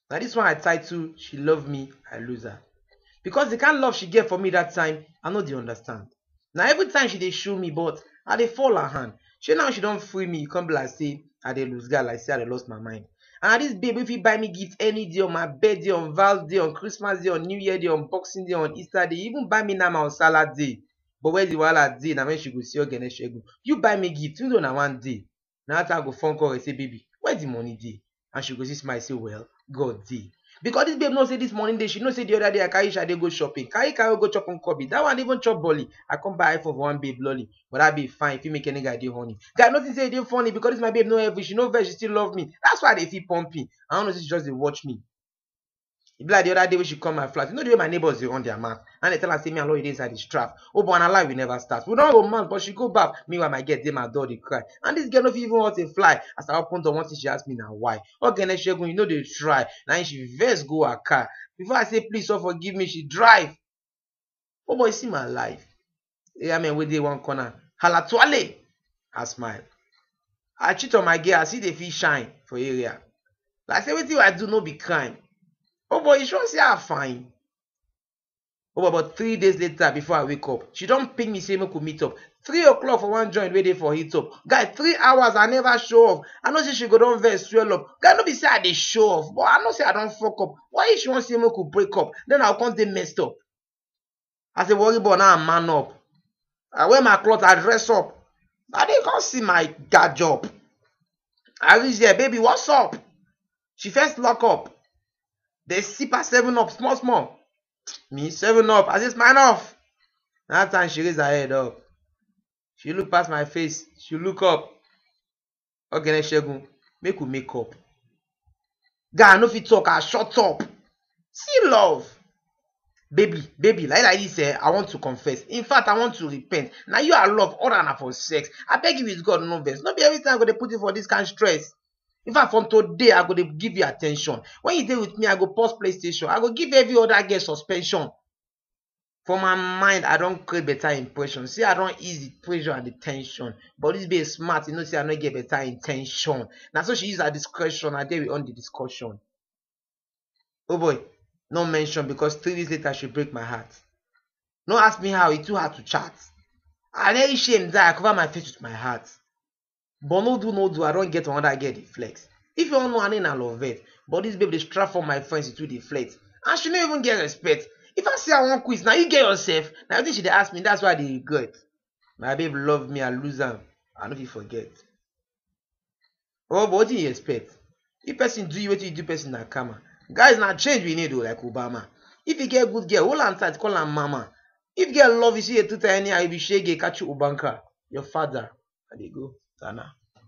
Na dis one I title She Love Me, I Lose Her. Because the kind love she get for me that time, I no dey understand. Na every time she dey show me but I dey fall her hand. Shey now she don free me, e come be like say I dey lose guard, like say I dey lost my mind. And na dis babe wey fit buy me gift any day, on my birthday, on Val's day, on Christmas day, on New Year day, on Boxing day, on Easter day, even buy me nama on Salah day. But where the wahala dey na when she go see Ogene Segun. You buy me gift, you know na one day. na that time I go phone call her say baby where the money dey and she go see smile say well God dey because this babe know say this money dey she know say the other day I carry Shade go shopping carry carry go chop nkobi that one even chop bolly I come buy iPhone for one babe lolly but that babe fine fit make any guy dey horny guy nothing say e dey funny because this my babe no heavy she no vex she still love me that's why I dey feel pumping I no know say she just dey watch me e be like the other day wey she come my flat you know the way my neighbors dey run their mouth and they tell am say me and lori dey inside the strap oh but na lie we never start we don romance but she go baff meanwhile my girl dey my door dey cry and this girl no fit even hurt a fly as i open door one thing she ask me na why ogene segun you no dey try na him she vex go her car before i say please sir forgive me she drive Oh boy, see my life. Yeah, man, we dey one corner. Hala tuale. I smile. I cheat on my girl, I see the fish shine for area. Like say wetin I do no be crime. Oh boy, you sure say I fine? Oh boy, but three days later before I wake up, she don ping me say make we meet up. Three o'clock for one joint wey dey for heat up. Guy, three hours I never show off. I know say she go don vex swell up. Guy, no be say I dey show off, but I know say I don fuck up. Why if she wan say make we break up, then I go come dey messed up? As a worry boy, now I man up. I wear my cloth, I dress up. Na then you come see my guard job. I reach there, baby, what's up? She first lock up, then sip her seven up small small. Me, seven up, I say smile off. Na that time she raise her head up. She look pass my face, she look up. Ogene Segun, make we make up. Guy, I no fit talk, I shut up. See love. Baby, baby, like like this, eh, I want to confess. In fact, I want to repent. Now you are love, all na for sex. I beg you with God, no vex. No be every time I go dey put you for this kind stress. In fact, from today, I go dey give you attention. When you dey with me, I go pause PlayStation. I go give every other girl suspension. For my mind, I don create better impression. See, I don ease the pressure and the tension. But this babe smart, you know, say I no get better intention. Now, so she use her discretion. I dare we on the discussion. Oh boy, no mention because three days later she break my heart. No ask me how, it too hard to chat. I dey shame that I cover my face with my heart. but no do no do i don get another girl dey flex if you wan know her name na lovett but this babe dey strap for my friends she too dey flex and she no even get respect if i say i wan quit na you get yourself na wetin she dey ask me that's why i dey regret my babe love me i lose am i no fit forget oh but wetin you expect if person do you wetin you do person na karma guys na change we need o like obama if you get good girl hold am tight call am mama if girl love you see dey tuta anyhow you be shege catch ubanka your fada i dey go tana